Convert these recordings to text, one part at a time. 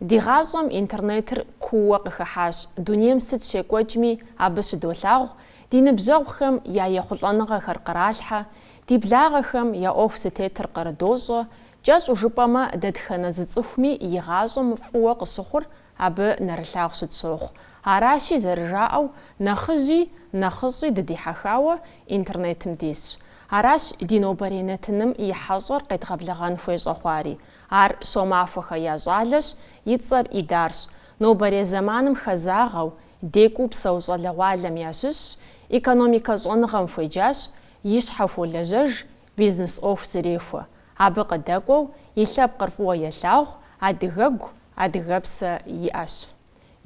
Ди гъащӏэм интернетыр кууэ къыхыхьащ, дунейм сыт щекӏуэкӏми абы щыдолъагъу, ди ныбжьэгъухэм я ехъулӏэныгъэхэр къралъхьэ, ди благъэхэм я ӏуэху зытетыр кърыдощӏэ, кӏэщӏу жыпӏэмэ дэтхэнэ зы цӏыхуми и гъащӏэм фӏыуэ къыщыхъур абы нэрылъагъу щытщохъу. Аращи, зэрыжаӏэу, нэхъыжьи, нэхъыщӏи дыдихьэхауэ интернетым дисщ. Аращ ди нобэрей нэтыным и хьэщӏэр къедгъэблэгъэн хуей щӏэхъуари. Ар Щомахуэхэ я щӏалэщ, и цӏэр Идарщ. Нобэрей зэманым хэзагъэу, декӏуу псэу щӏалэгъуалэм ящыщщ, экономикэ щӏэныгъэм хуеджащ, и щхьэ хуолэжьэж, бизнес ӏуэху зэрехуэ. Абы къыдэкӏуэу и лъэпкъыр фӏыуэ елъагъу, адыгэгу, адыгэпсэ иӏэщ.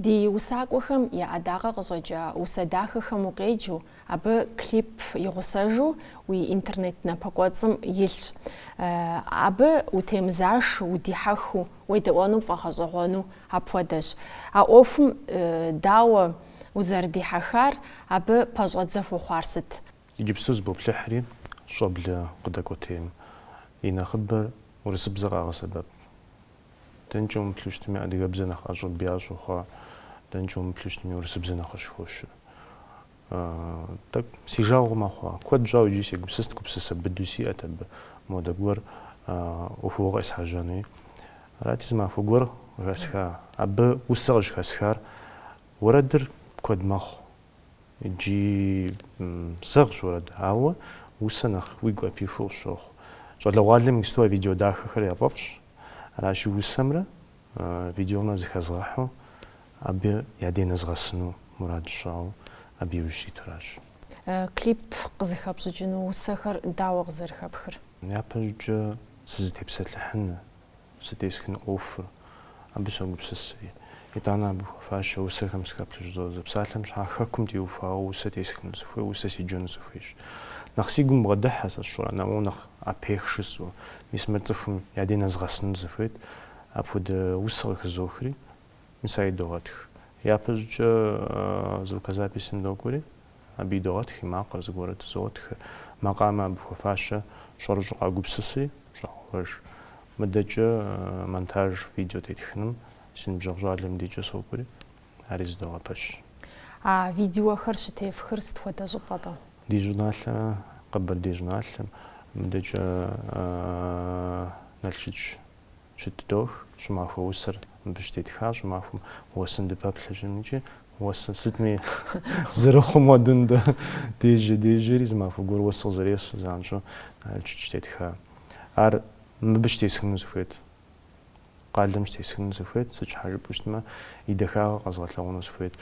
Ди усакӏуэхэм я ӏэдакъэ къыщӏэкӏа усэ дахэхэм укъеджэу, абы клип игъусэжу уи интернет напэкӏуэцӏым илъщ. Абы утемызашу, удихьэхыу, уедэӏуэну пфӏэгъэщӏэгъуэну апхуэдэщ. А ӏуэхум дауэ узэрыдихьэхар, абы пэщӏэдзэ хуэхъуар сыт? Иджыпсту зыбоплъыхьри, щӏэблэ къыдэкӏуэтейм и нэхъыбэр урысыбзэ къагъэсэбэп. Дэнкӏэ умыплъыщтми, адыгэбзэ нэхъ ӏэщӏыб ящӏу хъуа, дэнкӏэ умыплъыщтми, урысыбзэ нэхъ къыщыхощ. Тӏэкӏу, си жагъуэ мэхъу. Куэд щӏауэ иджы сегупсыст, гупсысэ быду сиӏэт абы, модэ гуэр ӏуэхугъуэ къесхьэжьэнуи. Арати, зы махуэ гуэр къыхэсха. Абы усэ къыщӏыхэсхар уэрэдыр куэд мэхъу. Иджы сэгъщ уэрэд, ауэ усэ нэхъ уигу ӏэпихыу къысщохъу. Щӏалэгъуалэм иджыпсту а видео дахэхэр яфӏэфӏщ, Аращи, усэмрэ видеомрэ зыхэзгъэхьу абы я дей нэзгъэсыну мурад сщӏауэ абы иужь ситуращ. Клип къызыхэпщӏыкӏыну усэхэр дауэ къызэрыхэпхыр? Япэщӏыкӏэ сызытепсэлъыхьын, сэ тесхыну ӏуэхур, абы согупсысри. Итӏанэ абы хуэфащэ усэхэм сыхэплъэн щӏызодзэ. Псалъэм щхьэкӏэ, Хэкум теухуауэ усэ тесхыну сыхуей, усэ седжэну сыхуейщ. Нэхъ си гум бгъэдыхьэ сэ сщӏэрэ, нэмыӏу нэхъ Апех шысу, мис мыр цӏыхум я дей нэзгъэсыну сыхуейт, апхуэдэ усэ къыхызохри, мис ар идогъэтх. Япэщӏыкӏэ звукозаписым докӏуэри, абы идогъэтх и макъыр зыгуэру тызогъэтх. Макъамэ абы хуэфащэ щӏэрыщӏу къагупсысри, щӏагъэуэж. Мыдэкӏэ монтаж видео тетхыным си ныбжьэгъу щӏалэм дикӏэ сокӏури, ари зыдогъэпэщ. А видеохэр щытефхыр сыт хуэдэ щӏыпӏэ-тӏэ? Ди щӏыналъэ, Къэбэрдей щӏыналъэм, мыдэкӏэ Налшыч щытыдох, щӏымахуэ усэр мыбы щытетха, щӏымахуэм уэсын дыпэплъэ щӏын икӏи уэсыр сытми зэрыхъум хуэдэу нтӏэ, дежьэ, дежьэри зы махуэ гуэр уэс къызэресу занщӏэу Налшыч щытетха. Ар мыбы щытесхыну сыхуейт. Къалэм щытесхыну сыхуейт, сыт щхьэ жыпӏэу щытмэ, и дахагъэр къэзгъэлъэгъуэну сыхуейт.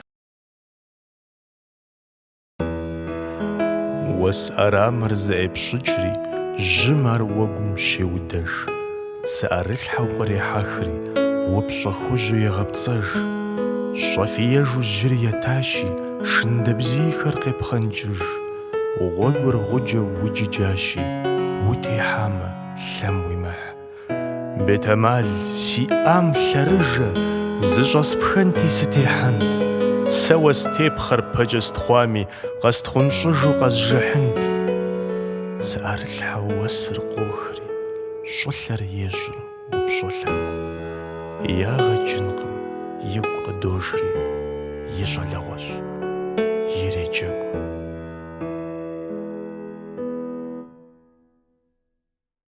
Уэс ӏэрамэр зэӏепщӏыкӏри, жьым ар уэгум щеудэж. Цы ӏэрылъхьэу кърехьэхри, упщӏэ хужьу егъэпцӏэж. Щӏэфиежу жьыр етащи, шындэбзийхэр къепхъэнкӏыж. Гъуэгур гъуджэу уджыджащи, утехьамэ, лъэм уимыхь. Бетэмал, сиӏам лъэрыжэ, зыщӏэспхэнти сытехьэнт. Сэ уэстепхъэр пэкӏэ стхъуами, къэстхъунщӏыжу къэзжыхьынт. Цы ӏэрылъхьэу уэсыр къохри, щӏылъэр ещӏыр упщӏэ лъэгу. Ягъэ кӏынкъым, игу къыдожри, и щӏалэгъуэщ, иреджэгу.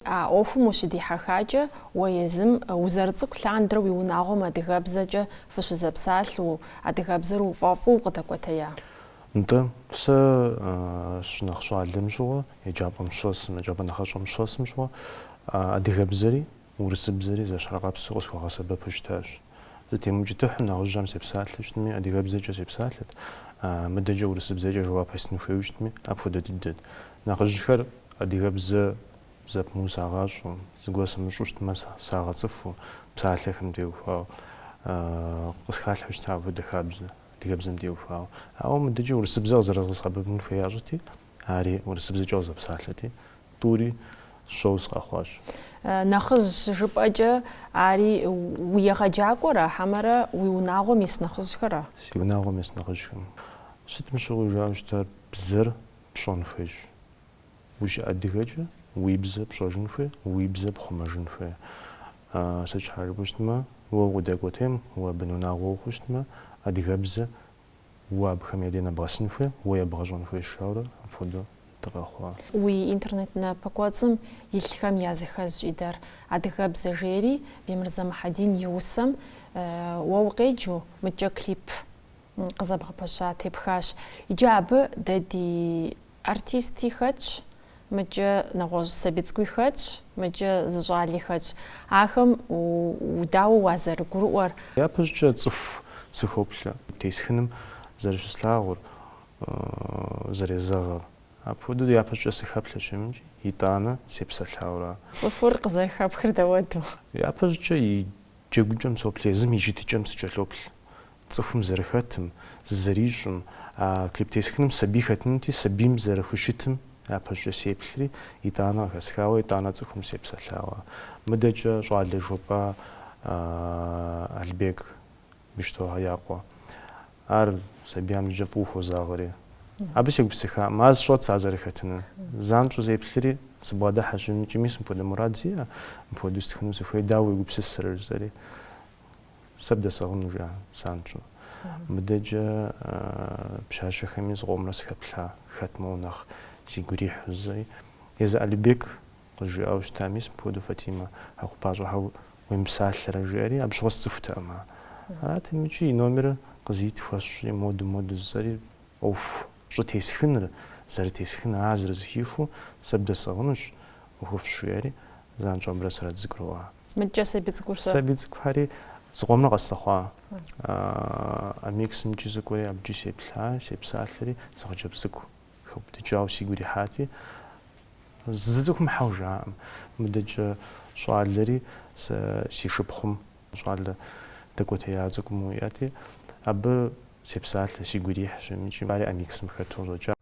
А ӏуэхум ущыдихьэхакӏэ, уэ езым узэрыцӏыкӏу лъандэрэ уи унагъуэм адыгэбзэкӏэ фыщызэпсалъэу, адыгэбзэр уфӏэфӏу укъыдэкӏуэтея? Нтӏэ, сэ сыщынэхъ щӏалэм щыгъуэ, еджапӏэм щӏэсым, еджапӏэ нэхъыщӏэм щӏэсым щыгъуэ адыгэбзэри урысыбзэри зэщхьыркъэпсу къысхуэгъэсэбэпу щытащ. Сытемыукӏытыхьу нэхъыжьым сепсалъэу щытми, адыгэбзэкӏэ сепсалъэт, мыдэкӏэ урысыбзэкӏэ жэуап естын хуейуэ щытми, апхуэдэ дыдэт. Нэхъыжьхэр адыгэбзэ зэпымыу сагъащӏэу, зыгуэр сымыщӏу щытмэ, сагъэцӏыхуу, псалъэхэм теухуауэ, къысхалъхьэу щыта апхуэдэ хабзэ, адыгэбзэм теухуауэ. Ауэ мыдэкӏэ урысыбзэ къызэрызгъэсэбэпын хуей ящӏэти, Ари урысыбзэкӏэ къызэпсалъэти, тӏури сщӏэуэ сыкъэхъуащ. Нэхъыжь щыжыпӏэкӏэ, ари уи егъэджакӏуэра, хьэмэрэ уи унагъуэм ис нэхъыжьхэра? Си унагъуэм ис нэхъыжьхэм. Сытым щыгъуи жаӏэу щытар бзэр пщӏэн хуейщ. Ущыадыгэкӏэ уи бзэ пщӏэжын хуей, уи бзэ пхъумэжын хуей. Сыт щхьэ жыпӏэу щытмэ, уэ укъыдэкӏуэтейм, уэ бын унагъуэ ухъуу щытмэ, адыгэбзэ Уэ абыхэм я дей нэбгъэсын хуей, уэ ебгъэщӏэн хуей жаӏэурэ апхуэдэу дыкъэхъуа? Уи интернет напэкӏуэцӏым илъхэм языхэзщ, Идар, Адыгэбзэ жери Бемырзэ Мухьэдин и усэм уэ укъеджэу мыкӏэ клип къызэбгъэпэща тепхащ. Иджы абы дэ ди Артисти хэтщ, мыкӏэ нэгъуэщӏ сабий цӏыкӏуи хэтщ, мыкӏэ зы щӏали хэтщ. Ахэм дауэ уазэрыгурыӏуэр? Япэщӏыкӏэ цӏыху сыхоплъэ. Тесхыным зэрыщыслъагъур, зэрезэгъыр. Апхуэдэу япэщӏыкӏэ сыхэплъэщ икӏи, итӏанэ сепсэлъауэ ара. Цӏыхур къызэрыхэпхыр дауэду? Япэщӏыкӏэ и джэгукӏэм соплъ, езым и щытыкӏэм сыкӏэлъоплъ. цӏыхум зэрыхэтым, зызэрищӏым, а клип тесхыным сабий хэтынути, сабийм зэрыхущытым япэщӏыкӏэ сеплъри, итӏанэ къыхэсхауэ, итӏанэ цӏыхум сепсэлъауэ. Мыдэкӏэ щӏалэ жопӏа Албек Бищтохэ я къуэ. Ар сабийхэм зыкӏэ фӏыуэ хуозагъэри. Абы сегупсыхакъым, ар сщӏэт сэ ар зэрыхэтыныр. Занщӏэу сеплъри, сыбгъэдыхьэщ икӏи, мис мыпхуэдэ мурад сиӏэ, мыпхуэдэу стхыну сыхуей, дауэ уегупсысырэ, жысӏэри. Сэ бдэсӏыгъыну жиӏа занщӏэу. Мыдэкӏэ пщащэхэми зыкъомрэ сыхэплъа, хэт моуэ нэхъ сигу ирихьу жысӏэри. Езы Алибек къызжиӏауэ щыта, мис мыпхуэдэу Фатимэ Хьэхъупащӏэхэ уемыпсалъэрэ, жиӏэри, абы щыгъуэ сцӏыхутэкъым ар. Арати икӏи и номерыр къызит хуэсщӏри, моду, моду жысӏэри, ӏуэху щӏытесхыныр, зэрытесхын, ар зэрызыхихыу, сэ бдэсӏыгъынущ, ӏуэхуфӏщ, жиӏэри, занщӏэу абырэ сэрэ дызэгурыӏуа. Мыдэкӏэ сабий цӏыкӏур сэ. Сабий цӏыкӏухэри зыкъомрэ къэслъыхъуа Амиксым икӏи сыкӏуэри абыкӏи сеплъа, сепсалъэри, зы хъыджэбз цӏыкӏу хэубыдыкӏауэ сигу ирихьати, зы цӏыхум хьэуэ жиӏакъым. Мыдэкӏэ щӏалэри сэ си шыпхъум щӏалэ дэкӏуэтея цӏыкӏу иӏэти, абы сепсалъэ, сигу ирихьщ икӏи ари Амиксым хэту къыщӏэкӏа.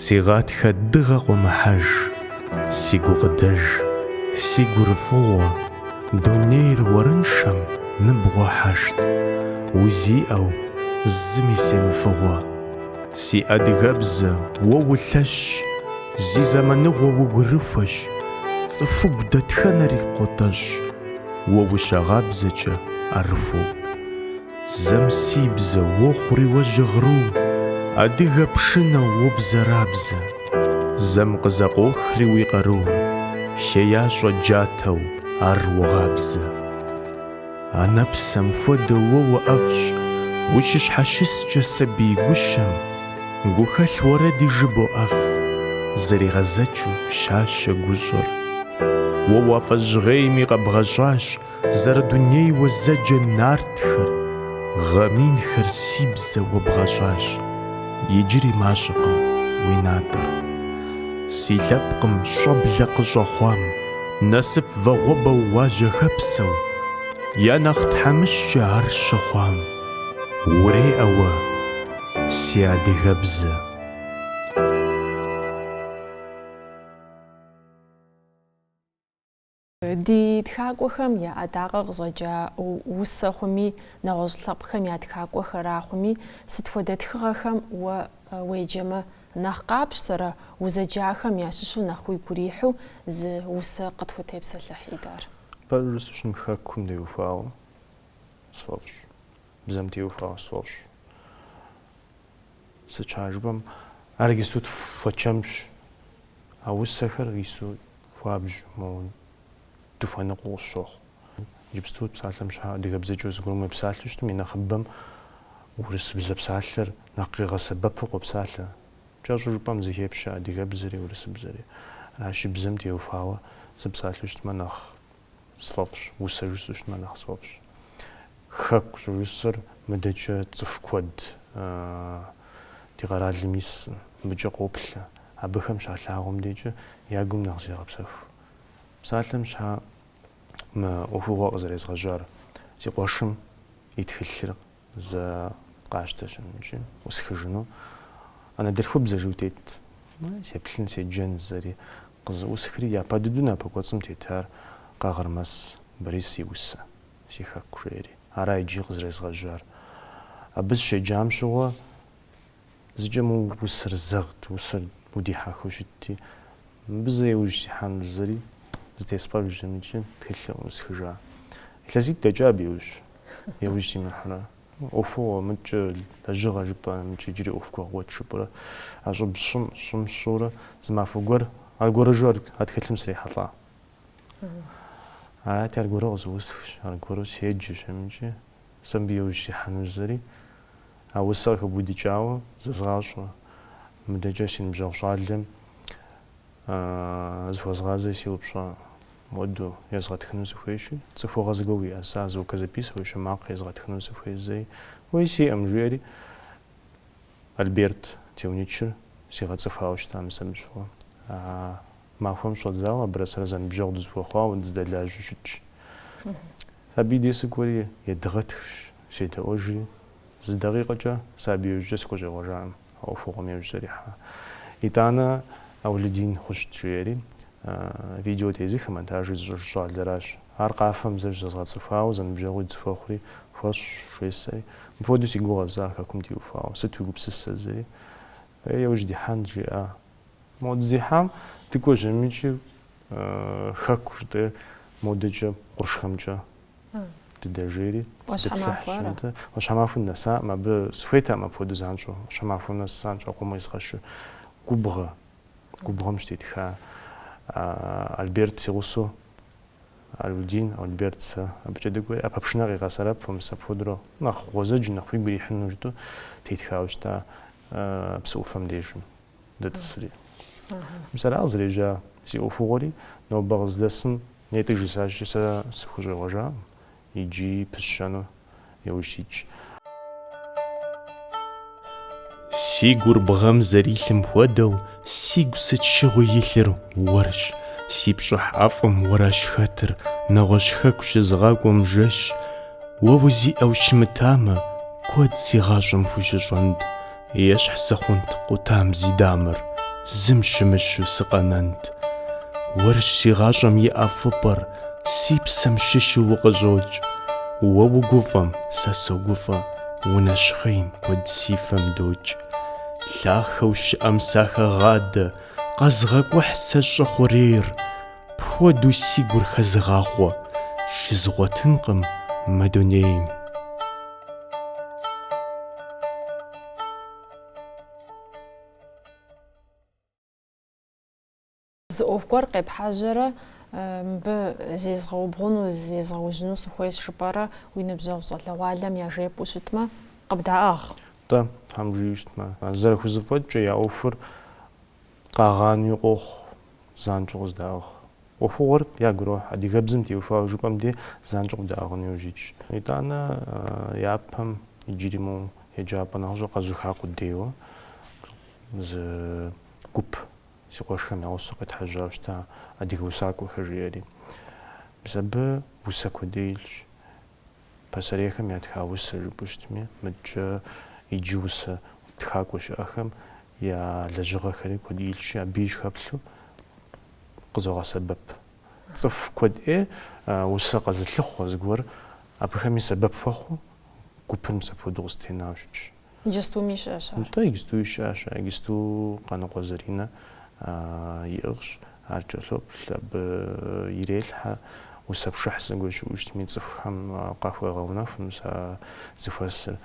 Си гъатхэ дыгъэ къуэмыхьэж, Си гукъыдэж, си гурыфӏыгъуэ, Дунейр уэрыншэм ныбгъуэхьэшт, Узиӏэу, зыми семыфыгъуэ. Си адыгэбзэ, уэ улъэщщ, Зи зэманыгъуэ угурыхуэщ, Цӏыхугу дэтхэнэри къотӏэщӏ, Уэ ущагъабзэкӏэ ӏэрыхуэу. Зэм си бзэ уохъури уэ жьгъыру, Адыгэ пшынэу уобзэрабзэ. Зэм къызэкъуохри уи къару, Хеящӏэ джатэу ар уогъабзэ. Анэ псэм хуэдэу уэ уӏэфӏщ, Ущыщхьэщыскӏэ сабий гущэм, Гухэлъ уэрэди жыбоӏэф, Зэригъэдзэкӏыу пщащэ гущӏэр. Уэ уафӏэжьгъейми къэбгъэщӏащ, Зэрыдунейуэ зэджэ нартхэр, гъэминхэр си бзэ уэ бгъэщӏащ, иджыри мащӏэкъым уи натӏэр. Си лъэпкъым щӏэблэ къыщӏэхъуам, насып вагъуэбэу уажьэхэпсэу, я нэхъ тхьэмыщкӏэ ар щыхъуам, уреӏэ уэ, си адыгэбзэ. Ди тхакӏуэхэм я ӏэдакъэ къыщӏэкӏа усэ хъуми, нэгъуэщӏ лъэпкъхэм я тхакӏуэхэра хъуми, сыт хуэдэ тхыгъэхэм уэ уеджэмэ, нэхъ къапщтэрэ, узэджахэм ящыщу нэхъ уигу ирихьу зы усэ къытхутепсэлъыхь, Идар. Пэжыр жысӏэу щытмэ, Хэкум теухуауэ сфӏэфӏщ, бзэм теухуауэ сфӏэфӏщ. Сыт щхьа жыпӏэм, ар иджыпсту тхуэчэмщ, а усэхэр ису хуабжь, моуэ дыхуэныкъуэу къысщохъу. Иджыпсту псалъэм щхьа адыгэбзэкӏэ зыгуэрым уепсалъэу щытым и нэхъыбэм урысыбзэ псалъэр нэхъ къигъэсэбэпу къопсалъэ. Кӏэщӏу жыпӏэм зыхепщэ адыгэбзэри, урысыбзэри. Аращи, бзэм теухуауэ сыпсалъэу щытмэ нэхъ сфӏэфӏщ, усэ жысӏэу щытмэ нэхъ сфӏэфӏщ. Хэку щӏыжысӏэр мыдэкӏэ цӏыху куэд ди къэралым ис, мыбыкӏэ къоплъэ. Абыхэм щалъагъум декӏэ я гум нэхъ зегъэпсэху. Псалъэм щхьа мы ӏуэхугъуэ къызэрезгъэжьар, си къуэшым и тхылъыр Зэ къасщтэщ амыкӏи, ӏусхыжыну. Анэдэлъхубзэ жиӏэу тет, сеплъын, седжэн зэри къызэӏусхри, япэ дыдэу напэ кӏуэцӏым тетар Къагъырмэс Борис и усэ, си хэку жери. Ара иджы къызэрезгъэжьар. Абы сыщеджам щыгъуэ Зыкӏэ мы усэр зэгът, усэр удихьэхыу щытти, мыбы зэ иужь сихьэну зэри зэтеспӏэжщ амыкӏи тхылъыр ӏусхыжа. Илъэситӏ дэкӏа абы иужь, иужь симыхьэурэ. ӏуэхугъуэ мыкӏэ, лэжьыгъэ жыпӏэ, мыкӏэ иджыри ӏуэху гуэгъуэт жыпӏэрэ, а щӏыб сщӏым, сщӏым сщӏурэ зы махуэ гуэр аргуэрыжу ар, а тхылъым срихьэлӏа. Арати, аргуэру къызэӏусхщ, аргуэру седжэщ, амыкӏи сэ мыбы иужь сихьэну зэри А усэр къыхыбудыкӏауэ зэзгъащӏэ. Мыдэкӏэ си ныбжьэгъу щӏалэм зыхуэзгъазэри сеупщӏа, муэду, езгъэтхыну сыхуейщи, цӏыхугъэ зыгуэр уиӏэса, звукозаписывающий, макъ езгъэтхыну сыхуей зэри? Уей, сиӏэм, жиӏэри, Альберт Теуничыр сигъэцӏыхуауэ щыта мис абы щыгъуэ. А Махуэм щӏэдзауэ абырэ сэрэ зэныбжьэгъу дызыхуэхъуауэ дыздэлажьэу щытщ. Абы и дей сыкӏуэри едгъэтхщ, седэӏуэжри, зы дакъикъэкӏэ сэ абы иужькӏэ сыкъыщӏегъуэжакъым, а ӏуэхугъуэм иужь сызэрихьа. Итӏанэ Аулидин Хъущт, жиӏэри, видео тезыхым, монтажыр зыщӏыж щӏалэращ. Ар къафэм зэ щызэзгъэцӏыхуауэ зэныбжьэгъуи дызыхуэхъури хуэщӏщ, жесӏэри. Мыпхуэдэу си гугъэ зэ Хэкум теухуауэ, сыт уи гупсысэ зэри? Иужь дихьэн, жиӏа Модзыхьэм дыкӏуэжьэмичи хэку жытӏэ модэкӏэ къуршхэмкӏэ дыдэжейри зытплъыхьщ, нтӏэ. Ӏуащхьэмахуэ нэсаӏым, абы сыхуейтэкъым апхуэдэу занщӏэу. Ӏуащхьэмахуэ нэс занщӏэу къомэ езгъэщу. Губгъэ, губгъэм щытетха Альберт си гъусэу, Аулэдин, Альберт сэ абыкӏэ дыкӏуэри, ӏэпэпшынэ къигъэсэбэпу, мис апхуэдэурэ нэхъ гъуэзэджэу, нэхъ уигу ирихьыну жытӏэу тетхауэ щыта псы ӏуфэм дежым. дытӏысри. Мис ара къызэрежьа си ӏуэхугъуэри, нобэ къыздэсым нетӏэ жысӏащи, сэ сыхущӏегъуэжакъым, иджыри пысщэну яужь ситщ. Си гур бгъэм зэрилъым хуэдэу, сигу сыт щыгъуи илъыр уэрщ, си пщӏыхь ӏэфӏым уэращ хэтыр, нэгъуэщӏ хэку щызгъакӏуэм жэщ. Уэ узиӏэу щымытамэ, куэд си гъащӏэм хущыщӏэнт, Ещхь сыхъунт къутам зи дамэр, зым щымыщу сыкъэнэнт. Уэрщ си гъащӏэм и ӏэфӏыпӏэр, си псэм щыщу укъыщӏокӏ. Уэ угуфӏэм, сэ согуфӏэ, унэщхъейм, куэд си фэм докӏ. Лъахэу щыӏэм сахэгъадэ, къэзгъэкӏухь сэ щӏы хъурейр. Пхуэдэу си гур хэзыгъахъуэ, щызгъуэтынкъым мы дунейм. Зы ӏуэху гуэр къепхьэжьэрэ мыбы зезгъэубгъуну, зезгъэужьыну сыхуейщ жыпӏэрэ уи ныбжьэгъу щӏалэгъуалэм яжепӏэу щытмэ, къыбдаӏыгъ. Тӏэ, Тхьэм жиӏэу щытмэ. Зэрыхузыфӏэкӏкӏэ, я ӏуэхур Къагъанэуи къохъу, занщӏэу къыздаӏыгъ. ӏуэхугъуэр ягу ирохь, адыгэбзэм теухуауэ жыпӏэм дей занщӏэу къыдаӏыгъыну яужь итщ. Итӏанэ япэм иджыри моу еджапӏэ нэхъыщӏэ къэзуха къудейуэ зы гуп си къуэшхэм я гъусэу къетхьэжьа щыта, адыгэ усакӏуэхэр жиӏэри. Мис абы усэ куэд ӏей илъщ. Пасэрейхэм ятха усэ жыпӏэу щытми, мыдкӏэ иджы усэ тхакӏуэ щыӏэхэм я лэжьыгъэхэри куэд илъщи, абы сыхэплъэу къызогъэсэбэп. Цӏыху куэд ӏей усэ къэзылъыхъуэ зыгуэр абыхэми сэбэп хуэхъуу, гупыр мис апхуэдэу къыстенауэ щытщ. Иджыстуми щыӏэщ ар. Нтӏэ, иджыстуи щыӏэщ ар. Иджысту Къаныкъуэ Заринэ иӏыгъщ. Ар кӏэлъоплъ, абы ирелъхьэ. Усэпшыхь зыгуэр щыӏэу щытми, цӏыхухэм къахуегъэунэху мис зыхуэсыр.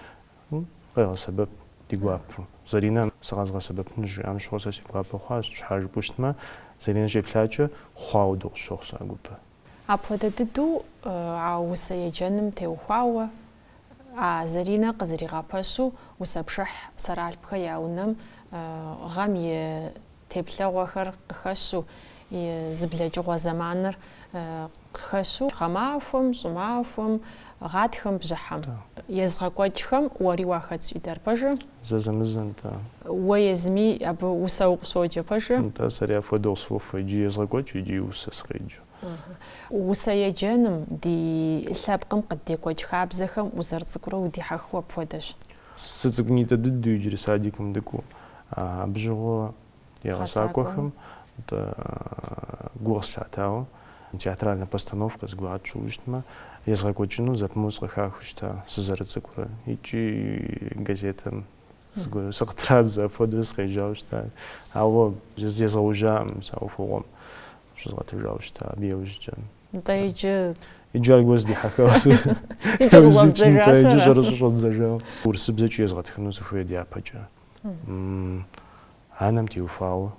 Къегъэсэбэп ди гуапэу. Заринэ сэ къэзгъэсэбэпыну щыжиӏам щыгъуэ сэ си гуапэ хъуащ. Щхьэ жыпӏэу щытмэ, Заринэ щеплъакӏэ, хъуа хуэдэу къысщохъу сэ а гупыр. Апхуэдэ дыдэу а усэ еджэным теухуауэ А Заринэ къызэригъэпэщу усэпшыхь Сэралъпхэ я унэм гъэм и теплъэгъуэхэр къыхэщу, зэблэкӏыгъуэ зэманыр къыхэщу гъэмахуэм, щӏымахуэм, гъатхэм, бжьыхьэм. Езыгъэкӏуэкӏхэм уэри уахэтщ, Идар пэжу? Зэзэмызэ, нтӏэ. Уэ езыми абы усэ укъыщоджэ пэжу? Нтӏэ, сэри апхуэдэу къысфӏохуэ, икӏи езгъэкӏуэкӏ, икӏи усэ сыкъеджэ. Усэ еджэным, ди лъэпкъым къыддекӏуэкӏ хабзэхэм узэрыцӏыкӏурэ удихьэхыу апхуэдэщ. Сыцӏыкӏунитӏэ дыдэу иджыри садикым дыкӏуэу, абы щыгъуэ я гъэсакӏуэхэм нтӏэ гу къыслъатауэ, театральнэ постановкэ зыгуэр тщӏыуэ щытмэ, езгъэкӏуэкӏыну зэпымыу сыкъыхахыу щыта сызэрыцӏыкӏурэ икӏи газетэм Сыкъытрадзэ апхуэдэу сыкъежьауэ щыта. Ауэ зезгъэужьакъым сэ ӏуэхугъуэм щызгъэтыжауэ щыта абы яужькӏэ. Нтӏэ иджы Иджы аргуэру сыдихьэхауэ сэ. Иджы къыщӏэддзэжащ ара? Иджы щӏэрыщӏэу щӏэддзэжауэ. Урысыбзэкӏи езгъэтхыну сыхуей дяпэкӏэ. Анэм теухуауэ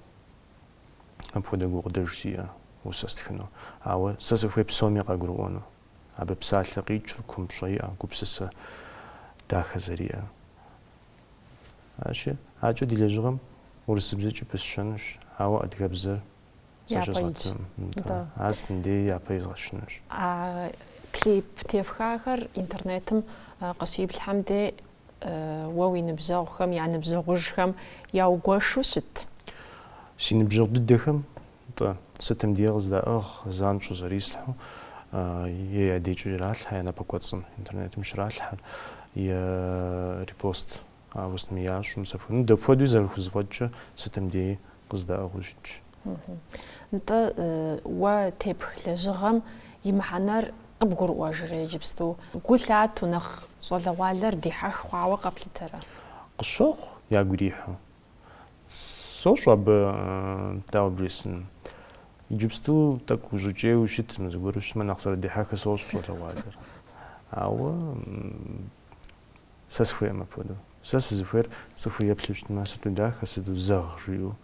апхуэдэ гукъыдэж сиӏэ усэ стхыну. Ауэ сэ сыхуей псоми къагурыӏуэну. Абы псалъэ къикӏыр кумпщӏэ иӏэ, гупсысэ дахэ зэриӏэр. Аращи, адэкӏэ ди лэжьыгъэм урысыбзэкӏи пысщэнущ, ауэ адыгэбзэр защӏэзгъэтын, нтӏэ, ар сытым деи япэ изгъэщынущ. А клип тефхахэр интернетым къыщиплъхьэм дей уэ уи ныбжьэгъухэм я ныбжьэгъужхэм яугуэшу щыт? Си ныбжьэгъу дыдэхэм Нтӏэ, сытым деи къыздаӏыгъ, занщӏэу зэрислъхьу, е я декӏэ иралъхьэ я напэкӏуэцӏым, интернетым щралъхьэ, е репост ауэ сытми ящӏу мис апхуэдэу. Ну, дапхуэдэуи зэрыхузэфӏэкӏкӏэ сытым деи къыздаӏыгъыу щытщ. Нтӏэ, уэ тепх лэжьыгъэм и мыхьэнэр къыбгурыӏуэжрэ иджыпсту? Гу лъату нэхъ щӏалэгъуалэр дихьэх хъуауэ къэплъытэрэ? Къысщохъу ягу ирихьу. Сощӏэ абы, дауэ бжесӏэн. Иджыпсту тӏэкӏу ущӏыкӏейуэ щытмэ, зыгуэру щытмэ нэхъ зэрыдихьэхыр сощӏэ, щӏалэгъуалэр. Ауэ сэ сыхуейкъым апхуэдэу. Сэ сызыхуейр цӏыхур еплъу щытмэ, сыту дахэ, сыту зэгъ жиӏэу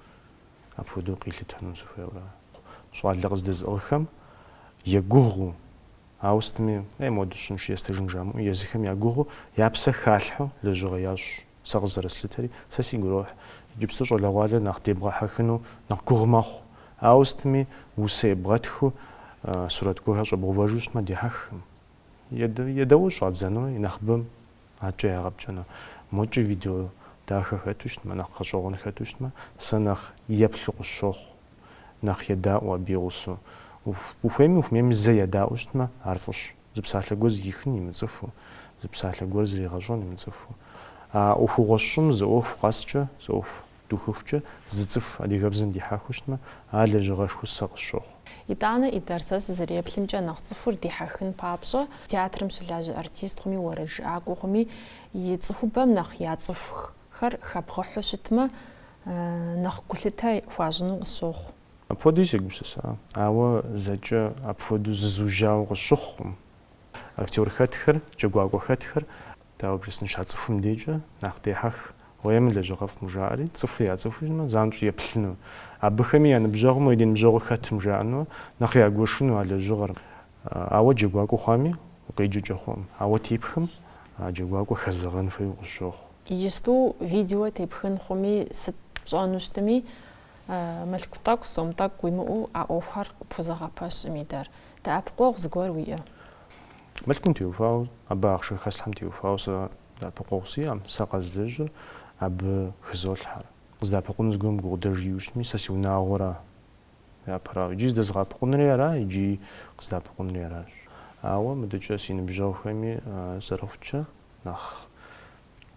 апхуэдэу къилъытэну сыхуейуэ. Щӏалэ къыздэзыӏыгъхэм егугъуу, ауэ сытми, е модэу сщӏынщи естыжын жамыӏэу, езыхэм ягугъуу, я псэ халъхьэу лэжьыгъэ ящӏ. Сэ къызэрыслъытэри, сэ сигу ирохь, иджыпсту щӏалэгъуалэр нэхъ дебгъэхьэхыну нэхъ гугъу мэхъу. Ауэ сытми, усэ ебгъэтхыу, сурэт гуэрхэр щӏэбгъэувэжу щытмэ, дихьэхкъым. Едаӏуэу щӏадзэну и нэхъыбэм адэкӏэ ягъэпкӏэну. Мокӏи видео дахэ хэту щытмэ, нэхъ гъэщӏэгъуэн хэту щытмэ, сэ нэхъ еплъу къысщохъу, нэхъ едаӏуэ абы и гъусэу. Ухуейми ухумейми зэ едаӏуэу щытмэ, ар фӏыщ. Зы псалъэ гуэр зэхихын имыцӏыхуу, зы псалъэ гуэр зригъэщӏэн имыцӏыхуу. А ӏуэхугъуэ сщӏым зы ӏуэху къэскӏэ, зы ӏуэху духыхукӏэ зы цӏыху адыгэбзэм дихьэхыу щытмэ, ар лэжьыгъэшхуэу сэ къысщохъу. Итӏанэ, Идар, сэ сызэреплъымкӏэ, нэхъ цӏыхур дихьэхын папщӏэ, театрым щылажьэ артист хъуми, уэрэджыӏакӏуэ хъуми, и цӏыхубэм нэхъ яцӏыхухэр хэбгъыхьэу щытмэ, нэхъ гулъытэ хуащӏыну къысщохъу. Апхуэдэуи сегупсыса, ауэ зэкӏэ апхуэдэу зызужьауэ къысщыхъукъым. Актер хэтхэр, джэгуакӏуэ хэтхэр, дауэ бжесӏэн, щацӏыхум дежкӏэ нэхъ дехьэх, уей мы лэжьыгъэфӏым жаӏэри, цӏыхур яцӏыхуу щытмэ, занщӏэу еплъыну, абыхэми я ныбжьэгъум уей ди ныбжьэгъур хэтым жаӏэну, нэхъ ягуэшыну а лэжьыгъэр. Ауэ джэгуакӏуэ хъуами, укъеджэкӏэ хъуӏым, ауэ тепхым а джэгуакӏуэр хэзэгъэн хуейуэ къысщохъу. Иджысту видео тепхын хъуми, сыт пщӏэну щытми, Мылъку тӏэкӏу, сом тӏэкӏу уимыӏэу а ӏуэхухэр къыпхузэгъэпэщӏым, Идар. Дэӏэпыкъуэгъу зыгуэр уиӏэ? Мылъкум теухуауэ, абы ахъшэ хэслъхьэм теухуауэ сэ дэӏэпыкъуэгъу сиӏэӏым, сэ къэзлэжьыр абы хызолъхьэр. Къыздэӏэпыкъуну зыгуэрым гукъыдэж иӏэу щытми, сэ си унагъуэра япэрауэ. Иджыи зыдэзгъэӏэпыкъунри ара, иджыи къыздэӏэпыкъунри аращ. Ауэ мыдэкӏэ си ныбжьэгъухэми зэрыхъукӏэ, нэхъ.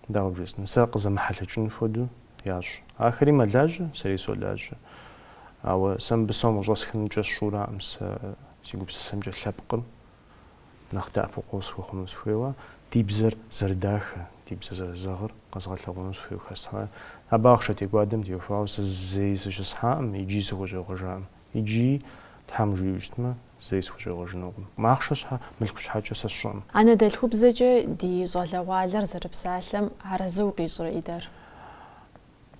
Дауэ бжесӏэн, сэ къызэмыхьэлъэкӏыну хуэдэу ящӏ. Ахэри мэлажьэ, сэри солажьэ. Ауэ сэ мыбы сом къыщӏэсхынукӏэ сщӏураӏым сэ си гупсысэмкӏэ лъэпкъым нэхъ дэӏэпыкъуэгъу сыхуэхъуну сыхуейуэ, ди бзэр зэрыдахэ, ди бзэр зэрызэгъыр къэзгъэлъэгъуэну сыхуейуэ хэслъхьэ. Абы ахъшэ текӏуадэм теухуауэ сэ зэи сыщысхьаӏым, иджи сыхущӏегъуэжаӏым. Иджыи, Тхьэм жиӏэу щытмэ, зэи сыхущӏегъуэжынукъым. Ахъшэ щхьэ, мылъку щхьэкӏэ сэ сщӏэӏым. Анэдэлъхубзэкӏэ ди щӏалэгъуалэр зэрыпсалъэм арэзы укъищӏрэ, Идар?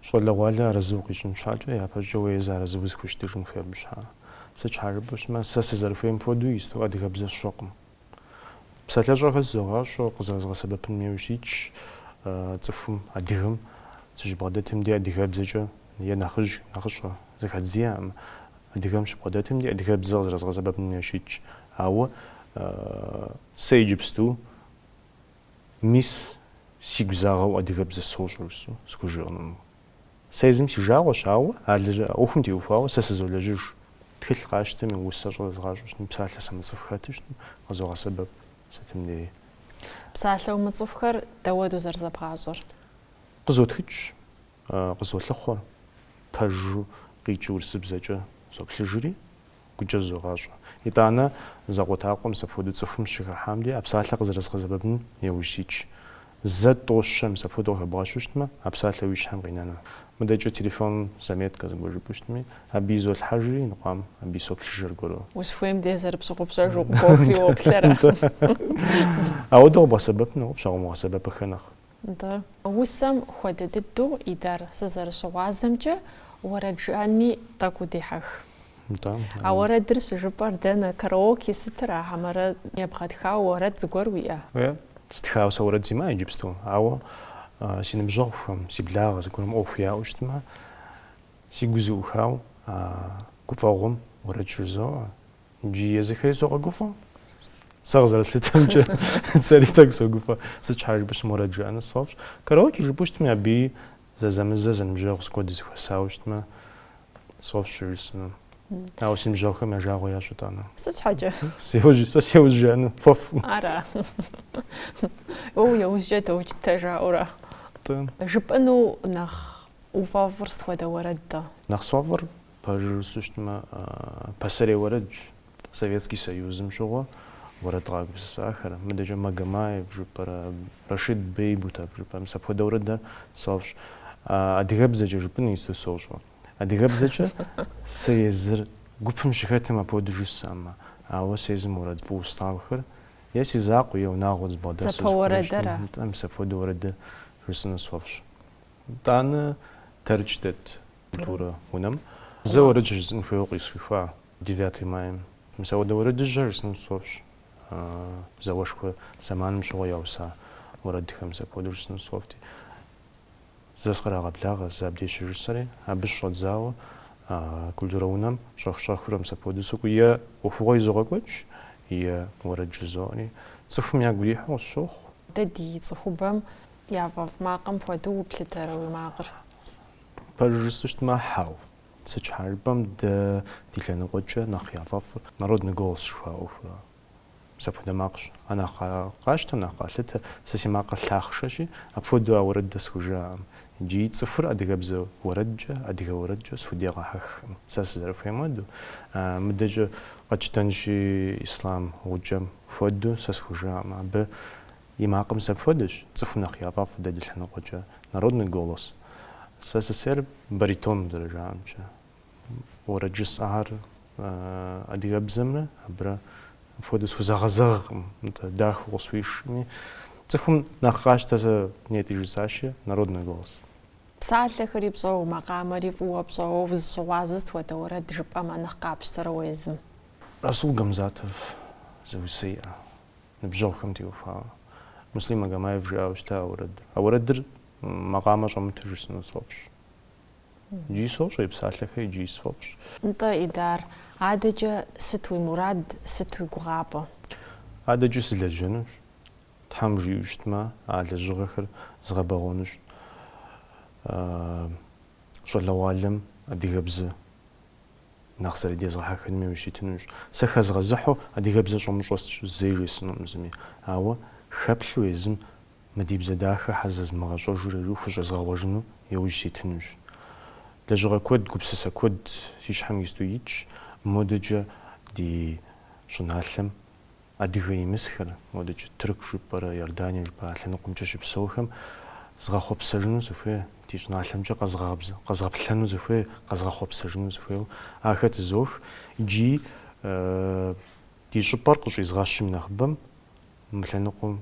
Щӏалэгъуалэ арэзы укъищӏын щхьэкӏэ, япэщӏыкӏэ уэ езы арэзы узыхущытыжын хуей абы щхьэ. Сыт щхьэ жыпӏэу щытмэ, сэ сызэрыхуейм хуэдэу исту адыгэбзэ сщӏэкъым. Псалъэщӏэхэр зызогъащӏэ, къызэрызгъэсэбэпыным яужь ситщ. Цӏыхум, адыгэм сыщыбгъэдэтым деж адыгэбзэкӏэ е нэхъыжь, нэхъыщӏэ зэхэдз иӏэкъым. Адыгэм сыщыбгъэдэтым деж адыгэбзэ къызэрызгъэсэбэпыным яужь ситщ. Ауэ сэ иджыпсту мис сигу загъэу адыгэбзэ сощӏ жысӏэу схужыӏэнукъым. Сэ езым си жагъуэщ, ауэ а ӏуэхум теухуауэ сэ сызолэжьыж. Тхылъ къасщтэмэ, усэщӏэ зэзгъащӏэу щытмэ, псалъэ сымыцӏыху хэту щытмэ, къызогъэсэбэп сытым деи. Псалъэ умыцӏыхухэр дауэдэу зэрызэбгъащӏэр? Къызотхыкӏщ, къызолъыхъуэ. Пэжу къикӏи урысыбзэкӏэ соплъыжри, гукӏэ зызогъащӏэ. Итӏанэ, закъуэтӏакъуэ мис апхуэдэу цӏыхум сыщыхыхьэм дей а псалъэр къызэрызгъэсэбэпыну яужь ситщ. Зэ тӏощэ мис апхуэдэу къыхэбгъэщу щытмэ, а псалъэр уи щхьэм къинэну. Мыдэкӏэ телефоным заметкэ зыгуэр жыпӏэу щытми, абы изолъхьэжри, иныкъуам абы исоплъыж аргуэру. Узыхуейм дей зэрыпщыгъупщэжу къыбохри уоплъэрэ? Ауэдэу къэбгъэсэбэпым нэхъыфӏщ, а къыумыгъэсэбэпыххэ нэхъ Нтӏэ. Усэм хуэдэ дыдэу Идар сызэрыщыгъуазэмкӏэ уэрэд жыӏэнми тӏэкӏу дехьэх. Нтӏэ. А уэрэдыр щыжыпӏэр дэнэ, караоке сытыра хьэмэрэ ебгъэтхауэ уэрэд зыгуэр уиӏэ? Уеэ, стхауэ сэ уэрэд симыӏэ иджыпсту, ауэ си ныбжьэгъухэм, си благъэ зыгуэрым ӏуэху яӏэу щытмэ, си гур зэӏухауэ гуфӏэгъуэм уэрэд щыжызоӏэ, Икӏи езыхэри согъэгуфӏэ. Сэ къызэрыслъытэмкӏэ сэри тӏэкӏу согуфӏэ. Сыт щхьэ жыпӏэу щытмэ, уэрэд жыӏэныр сфӏэфӏщ. Караоке жыпӏэу щытми абыи зэзэмызэ зэныбжьэгъу зыгуэр дызэхуэсауэ щытмэ сфӏэфӏщ щыжысӏэну. Ауэ си ныбжьэгъухэм я жагъуэ ящӏ итӏанэ. Сыт щхьэкӏэ? Сеужь, сэ сеужь жаӏэну фӏэфӏ. Ара. Уэ уи ужькӏэ доукӏытэ жаӏэурэ. Нтӏэ. Жыпӏэну нэхъ уфӏэфӏыр сыт хуэдэ уэрэд-тӏэ? Нэхъ сфӏэфӏыр Пэжу жысӏэу щытмэ, пасэрей уэрэдщ, Советский Союзым щыгъуэ уэрэд къагупсысахэр. Мыдэкӏэ Магомаев жыпӏэрэ, Рашид Бейбутов жыпӏэрэ, мис апхуэдэ уэрэдхэр сфӏэфӏщ. Адыгэбзэкӏэ жыпӏэн иджыпсту сощӏэ. Адыгэбзэкӏэ сэ езыр гупым сыщыхэтым апхуэдэу жысӏэмэ, ауэ сэ езым уэрэд фӏыуэ слъагъухэр е си закъуэ, е унагъуэ зэбгъэдэсу зыхуэмыщӏым, нтӏэ, мис апхуэдэ уэрэдхэр жысӏэну сфӏэфӏщ. Итӏанэ Тэрч дэт, Культурэ унэм зэ уэрэд жысӏэн хуейуэ къысхуихуа девятый майм. Мис апхуэдэ уэрэдыжьхэр жысӏэну сфӏэфӏщ зауэшхуэ зэманым щыгъуэ яуса уэрэдхэм. Сэ апхуэдэу жысӏэну сфӏэфӏти, зэ сыкърагъэблагъэ, зэ абдеж щыжысӏэри, абы щыщӏэдзауэ культурэ унэм щӏэх-щӏэхыурэ мис апхуэдэу сыкӏуэу е ӏуэхугъуэ изогъэкӏуэкӏ, е уэрэд жызоӏэри, цӏыхум ягу ирихьу къысщохъу. Дэ ди цӏыхубэм яфӏэфӏ макъым хуэдэу уплъытэрэ уи макъыр? Пэжу жысӏэу щытмэ, хьау. Сыт щхьэ жыпӏэм, дэ ди лъэныкъуэкӏэ нэхъ яфӏэфӏыр Народный голос жыхуаӏэ ӏуэхура. Мис апхуэдэ макъщ. Ар нэхъ къащтэ, нэхъ къалъытэ. Сэ си макъыр лъахъшэщи, апхуэдэу а уэрэдыр схужыӏэкъым. Икӏи цӏыхур адыгэбзэ уэрэдкӏэ, адыгэ уэрэдкӏэ схудегъэхьэхкъым, сэ сызэрыхуейм хуэдэу. Мыдэкӏэ къэтщтэнщи, Ислъам Гукӏэм хуэдэу сэ схужыӏэкъым абы. И макъым сэ апхуэдэщ, цӏыхум нэхъ яфӏэфӏ дэ ди лъэныкъуэкӏэ, народный голос. Сэ сысейр баритон зэрыжаӏэмкӏэ. Уэрэд жысӏэхэр адыгэбзэмрэ абырэ апхуэдэу схузэгъэзэгъкъым, нтӏэ, дахэу къысхуишми. Цӏыхум нэхъ къащтэ сэ нетӏи жысӏащи, народный голос. Псалъэхэри пщӏэуэ, макъамэри фӏыуэ пщӏэуэ узыщыгъуазэ сыт хуэдэ уэрэд жыпӏэмэ нэхъ къапщтэрэ уэ езым? Расул Гамзатов зы усэ иӏэ. Ныбжьэгъухэм теухуауэ, Муслим Магомаев жиӏауэ щыта а уэрэдыр. А уэрэдыр макъамэ щӏэмыту жысӏэну сфӏэфӏщ. Икӏи сощӏэ и псалъэхэр, икӏи сфӏэфӏщ. Нтӏэ, Идар, адэкӏэ сыт уи мурад, сыт уи гугъапӏэ? Адэкӏэ сылэжьэнущ. Тхьэм жиӏэу щытмэ, а лэжьыгъэхэр згъэбэгъуэнущ. Щӏалэгъуалэм адыгэбзэ. Нэхъ зэрыдезгъэхьэхыным иужь ситынущ. Сэ хэзгъэзыхьу адыгэбзэ щӏумыщӏэр сыт, зэи жесӏэнукъым зыми. Ауэ хэплъу езым мы ди бзэ дахэр щхьэ зэзмыгъэщӏа жиӏэурэ иджы хущӏезгъэгъуэжыну иужь ситынущ. Лэжьыгъэ куэд, гупсысэ куэд си щхьэм иджыпсту итщ модэкӏэ ди щӏыналъэм Адыгэ имысхэр, модэкӏэ Тырку жыпӏэрэ Иордание жыпӏэрэ а лъэныкъуэмкӏэ щыпсэухэм згъэхъуэпсэжыну сыхуей, ди щӏыналъэмкӏэ къэзгъэплъэну сыхуей, къэзгъэхъуэпсэжыну сыхуейуэ ахэр тызох икӏи ди щӏыпӏэр къыщӏизгъэщым нэхъыбэм мы лъэныкъуэм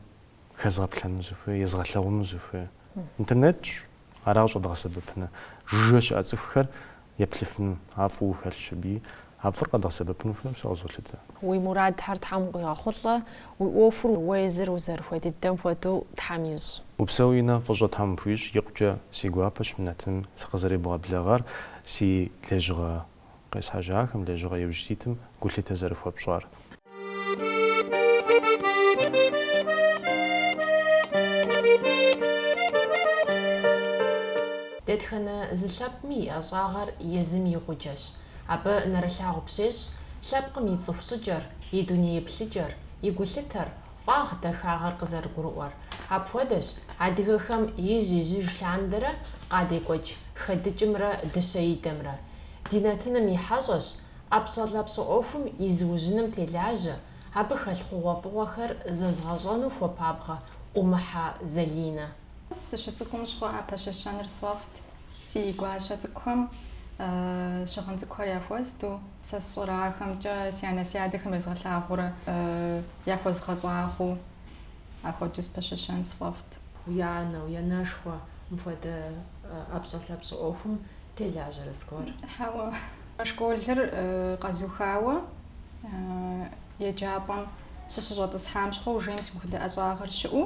хэзгъэплъэну сыхуей, езгъэлъагъуну сыхуей. Интернетщ, Аращ къэдгъэсэбэпыныр жыжьэ щыӏэ цӏыхухэр еплъыфыну, а фӏыуэ хэлъщ абы. А фӏыр къэдгъэсэбэпын хуейуэ сэ къызолъытэ. Уи мурадхэр Тхьэм къуигъэхъулӏэ, уи ӏуэхур уэ езыр узэрыхуей дыдэм хуэдэу Тхьэм ищӏ. Упсэу Инэ, фӏыщӏэ Тхьэм пхуищӏ, икъукӏэ си гуапэщ мы нэтыным сыкъызэребгъэблэгъар, си лэжьыгъэ къесхьэжьахэм лэжьыгъэ иужь ситым гулъытэ зэрыхуэпщӏар. Дэтхэнэ зы лъэпкъми и ӏэщӏагъэр езым и гъуджэщ. Абы нэрылъагъу пщещӏ лъэпкъым и цӏыху щӏыкӏэр, и дуней еплъыкӏэр, и гулъытэр, Фӏагъ дахагъэр къызэрыгурыӏуэр. Апхуэдэщ адыгэхэм ижь-ижьыж лъандэрэ къадекӏуэкӏ хэдыкӏымрэ дыщэидэмрэ. Ди нэтыным и хьэщӏэщ ӏэпщӏэлъапщӏэ ӏуэхум и зыужьыным телажьэ, абы хэлъ хъугъуэфӏыгъуэхэр зэзгъэщӏэну хуэпабгъэ Ӏумыхьэ Залинэ. Сыщыцӏыкӏум щхъуэӏэ пэщэщэныр сфӏэфӏт. Си гуащэ цӏыкӏухэм щыгъын цӏыкӏухэр яхуэзду, сэ сщӏэрэ ахэмкӏэ си анэ си адэхэм езгъэлъагъуурэ яхуэзгъэщӏагъуу, ахуэдэу спэщэщэн сфӏэфӏт. Уи анэ, уи анэшхуэ мыпхуэдэ ӏэпщӏэлъапщӏэ ӏуэхум телажьэрэ зыгуэр? Хьэуэ. Школыр къэзухауэ еджапӏэм сыщыщӏэтӏысхьам щыгъуэ уже мис мыхуэдэ ӏэщӏагъэр щыӏэу.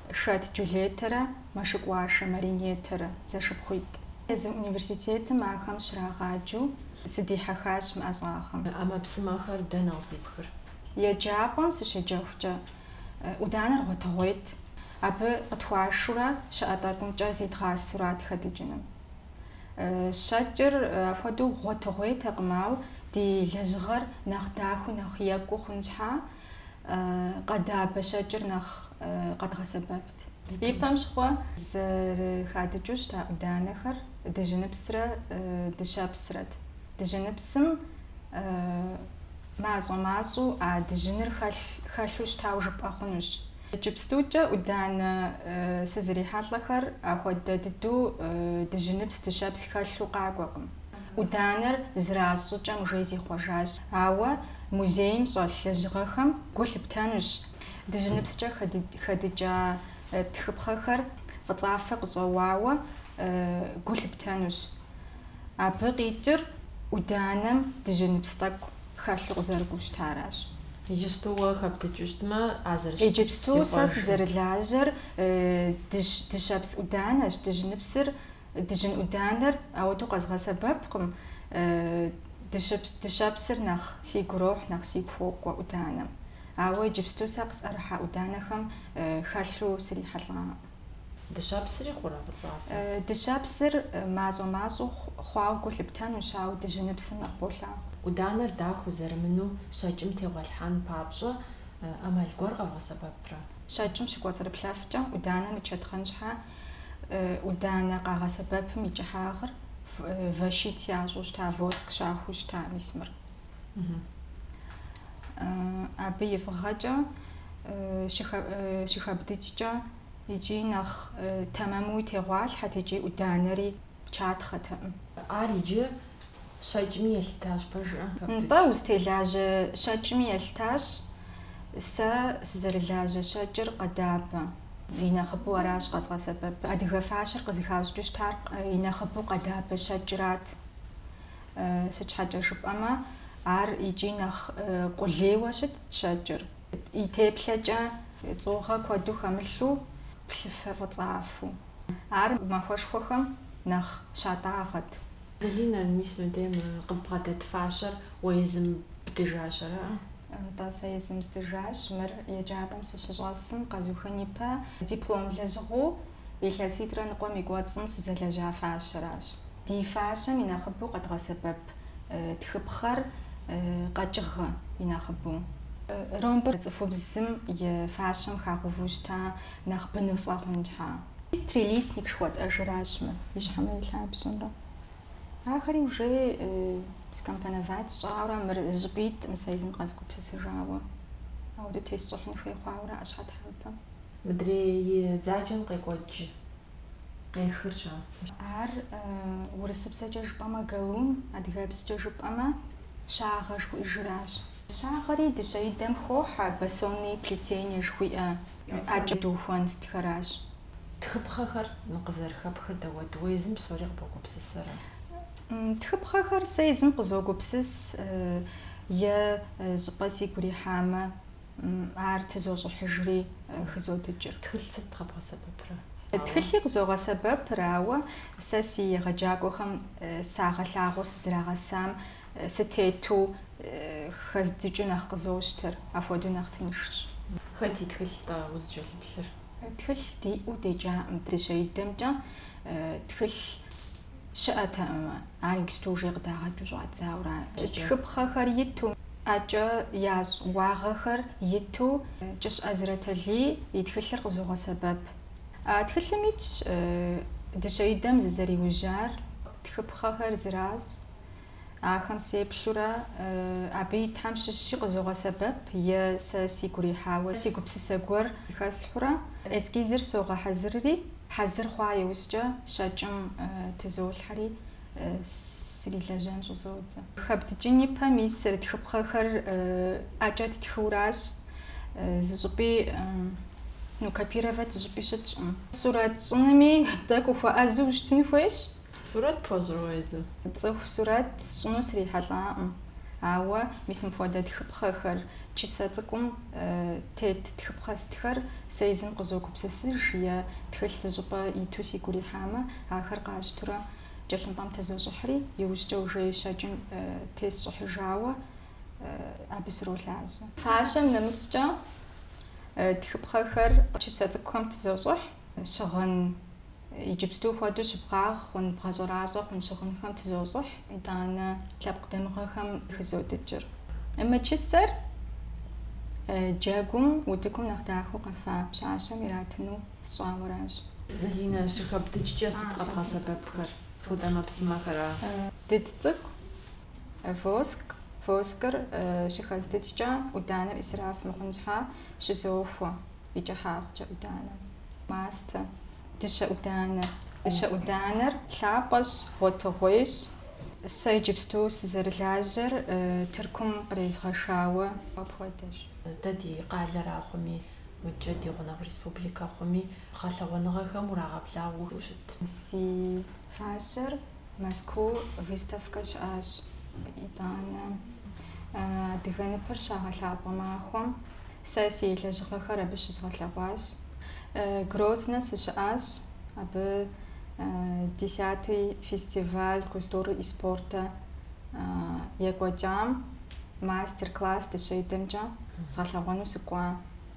Шэт Джулетэрэ Мэшыкӏуашэ Маринетэрэ зэшыпхъуитӏ. Езы университетым ахэм щрагъаджэу сыдихьэхащ мы ӏэщӏагъэм. ӏэмэпсымэхэр дэнэ къыздипхыр? Еджапӏэм сыщеджэхукӏэ, ӏуданэр гъуэтыгъуейт, абы къытхуашурэ щыӏэ тӏэкӏумкӏэ зидгъасурат хэдыкӏыным. Щэкӏыр апхуэдэу гъуэтыгъуейтэкъым, ауэ ди лэжьыгъэр нэхъ дахэу, нэхъ екӏуу хъун щхьа, къэдабэ щэкӏыр нэхъ къэдгъэсэбэпт. Ипэм щыгъуэ зэрыхадыкӏыу щыта ӏуданэхэр дыжьыныпсрэ дыщэпсрэт. Дыжьыныпсым мащӏэ-мащӏэу а дыжьыныр хэлъу щытауэ жыпӏэ хъунущ. Иджыпстукӏэ ӏуданэ сызрихьэлӏэхэр ахуэдэ дыдэу дыжьыныпс дыщэпс хэлъу къакӏуэкъым. ӏуданэр зэращӏ щӏыкӏэм уже зихъуэжащ. Ауэ музейм щӏэлъ лэжьыгъэхэм гу лъыптэнущ дыжьыныпскӏэ хэдыкӏа тхыпхъэхэр фӏыцӏафэ къыщӏэуауэ гу лъыптэнущ. Абы къикӏыр ӏуданэм дыжьыныпс тӏэкӏу. хэлъу къызэрыкӏуэу щытаращ. Иджыпсту уэ хэбдыкӏыу щытмэ, а зэрыщытыр зихъуэжын. Иджыпсту сэ сызэрылажьэр дыщэпс ӏуданэщ, дыжьыныпсыр, дыжьын ӏуданэр ауэдэу къэзгъэсэбэпкъым, дыщэпсыр нэхъ сигу ирохь, нэхъ сигу хуокӏуэ ӏуданэм. Ауэ иджыпсту сэ къысӏэрыхьа ӏуданэхэм хэлъу срихьэлӏакъым. Дыщэпсри хъурэ фӏыцӏафэ? Дыщэпсыр мащӏэ-мащӏэу хъуауэ гу лъыптэнущ, ауэ дыжьыныпсым нэхъ болъагъу. ӏуданэр дахэу зэрымынэу щэкӏым тегъуэлъхьэн папщӏэ ӏэмал гуэр къэвгъэсэбэпрэ? Щэкӏым щыкӏуэцӏрыплъэфкӏэ ӏуданэ мычэтхъэн щхьэ ӏуданэ къагъэсэбэпым и кӏыхьагъыр вощить ящӏу щыта, воск щахуэу щыта мис мыр. Абы и фӏыгъэкӏэ щыхэбдыкӏкӏэ икӏи нэхъ тэмэмуи тегъуалъхьэт икӏи ӏуданэри чатхъэтэкъым. Ар иджы щэкӏми елъытащ, пэжыӏэ? Нтӏэ, узытелажьэ щэкӏми елъытащ. Сэ сызэрылажьэ щэкӏыр къэдабэ. И нэхъыбэу аращ къэзгъэсэбэпыр. Адыгэ фащэр къызыхащӏыкӏыу щытар и нэхъыбэу къэдабэ щэкӏрат. Сыт щхьэкӏэ жыпӏэмэ, ар икӏи нэхъ къулейуэ щытт щэкӏыр. И теплъэкӏэ цӏугъэ куэду хэмылъу, плъыфэ фӏыцӏафэу. Ар махуэшхуэхэм нэхъ щатӏагъэт. Залинэ, мис мыбдейм къыббгъэдэт фащэр уэ езым бдыжащ, ара? Нтӏэ, сэ езым здыжащ. Мыр еджапӏэм сыщыщӏэсым къэзухын ипэ диплом лэжьыгъэу. илъэситӏрэ ныкъуэм и кӏуэцӏым сызэлэжьа фащэращ. Ди фащэм и нэхъыбэу къэдгъэсэбэп тхыпхъэр къэкӏыгъэ и нэхъыбэу. Ромбыр цӏыхубзым и фащэм хагъэувэу щыта нэхъ быныфӏэ хъун щхьа. Трилистник жыхуэтӏэжыращ мы и щхьэмрэ и лъабжьэмрэ. Ахэри уже скомпоновать сщӏауэрэ, мыр зыщӏыпӏитӏым сэ езым къэзыгупсысыжауэ. Ауэдэу тесщӏыхьын хуей хъуауэрэ ӏэщхьэтхьэпэм. Мыдрей и дзаджэм къекӏуэкӏ къехыр-щэ? Ар урысыбзэкӏэ жыпӏэмэ галун, адыгэбзэкӏэ жыпӏэмэ щагъэ жыхуиӏэжыращ. Щагъэри дыщэидэм хохьэ, басонные плетения жыхуиӏэ ӏэкӏэ дыухуэн сытхэращ. Тхыпхъэхэр къызэрыхэпхыр дауэт, уэ езым псори къыбогупсысэрэ? Тхыпхъэхэр сэ езым къызогупсыс, е щӏыпӏэ сигу ирихьамэ. Ар тызощӏыхьыжри хызодыкӏыр. Тхылъ сыт къэбгъэсэбэпрэ? Тхылъи къызогъэсэбэпыр, ауэ сэ си егъэджакӏуэхэм сагъэлъагъуэу сызрагъэсам сытету хэздыкӏыу нэхъ къызощтэр, апхуэдэу нэхъ тыншщ. Хэт и тхылъ-тӏэ узыкӏэлъыплъыр? Тхылъ диӏэу деджакъым дыщэидэмкӏэ. Тхылъ. Щыӏэтэкъым, ар иджысту уже къыдагъэкӏыу щӏадзауращ. Тхыпхъэхэр иту, ӏэкӏэ ящӏ уагъэхэр иту Кӏыщ ӏэзрэтэлий и тхылъыр къызогъэсэбэп. А тхылъым итщ дыщэидэм зызэриужьар. Тхыпхъэхэр зэращӏ, Ахэм сеплъурэ, абы итхэм щыщи къызогъэсэбэп е сэ сигу рихьауэ си гупсысэ гуэр хэслъхьэурэ, эскизыр согъэхьэзырри, хьэзыр хъуа иужькӏэ щэкӏым тызолъхьэри срилэжьэн щӏызодзэ. Хэбдыкӏын и пэ мис тхыпхъэхэр ӏэкӏэ ттхыуращ, зы щӏыпӏи, ну, копировать зы щӏыпӏи щытщӏым. Сурэт щӏынми тӏэкӏу ухуэӏэзэу ущытын хуейщ. Сурэт пхуэщӏрэ езым? Цӏыху сурэт сщӏыну срихьэлӏакъым, ауэ мис мыпхуэдэ тхыпхъэхэр, чысэ цӏыкӏум тет тхыпхъэ сытхэр сэ езым къызогупсысыж е тхылъ зыщӏыпӏэ иту сигу ирихьамэ, ахэр къащтурэ тхылъымпӏэм тызощӏыхьри, иужькӏэ уже щэкӏым тесщӏыхьыжауэ абы сролажьэ. Фащэм нэмыщӏкӏэ тхыпхъэхэр чысэ цӏыкӏухэм тызощӏыхь. Щыгъын иджыпсту хуэдэу щыбгъагъ хъун бгъэщӏэращӏэ хъун щыгъынхэм тызощӏыхь, итӏанэ лъэпкъ дамыгъэхэм хызодыкӏыр. Мы чысэр джэгум утыкум нэхъ дахэу къэфа пщащэм иратыну сщӏауэращ. Залинэ, щыхэбдыкӏкӏэ сыт къэбгъэсэбэпхэр? Сыт хуэдэ ӏэмэпсымэхэра? Дыд цӏыкӏу, воск. Воскыр щыхэздыкӏкӏэ ӏуданэр исраф мыхъун щхьа щызохуэ. и кӏыхьагъкӏэ ӏуданэ. Мастэ, дыщэ ӏуданэ. Дыщэ ӏуданэр лъапӏэщ, гъуэтыгъуейщ. Сэ иджыпсту сызэрылажьэр Тыркум кърезгъэшауэ апхуэдэщ. Дэ ди къалэра хъуми, мыдкӏэ ди гъунэгъу республикэ хъуми, гъэлъэгъуэныгъэхэм урагъэблагъэу ущыт? Си Фащэр Мэзкуу выставкэ щыӏащ. Итӏанэ адыгэ ныпыр щагъэлъапӏэ махуэм сэ си лэжьыгъэхэр абы щызгъэлъэгъуащ. Грознэ сыщыӏащ, абы десятый фестиваль культуры и спорта екӏуэкӏам мастер-класс дыщэидэмкӏэ згъэлъэгъуэну сыкӏуа.